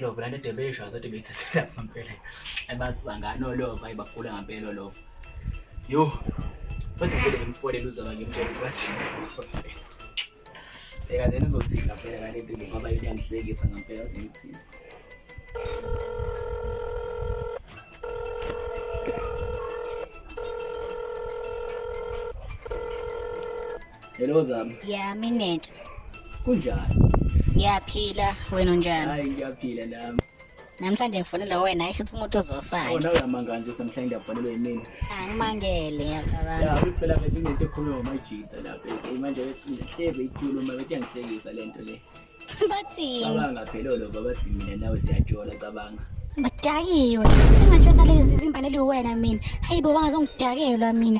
lova lento edebesha kodwa beyithathela ngampela ebasangana olova ibafula ngampela olova yo bathi vele ngimfolele uzaba ngimtshela ukuthi bathi Bheka nje nizothini ngampela ngale nto ngoba yini yangihlekisa ngampela ukuthi ngithini. Hello Zama. Yeah, minute. Kunjani? Ngiyaphila, wena unjani? Hayi ngiyaphila nami. Namhlanje ngifonelwe wena isho ukuthi umuntu uzofaka. Wona uyamanga nje samhlanje ngiyafonelwa yimina. Angimangele ngiyacabanga. Ya phela bethi into ekhuluma ngomajitha lapha. Eh, manje bethi ngiyeze ikhuluma bethi yangihlekisa lento le. Bathini? Cabanga phela lo baba bathi mina nawe siyajola cabanga. Badakiwe. Singatshona lezi zimbane liwena mina. Hayibo wangazongidakelwa mina.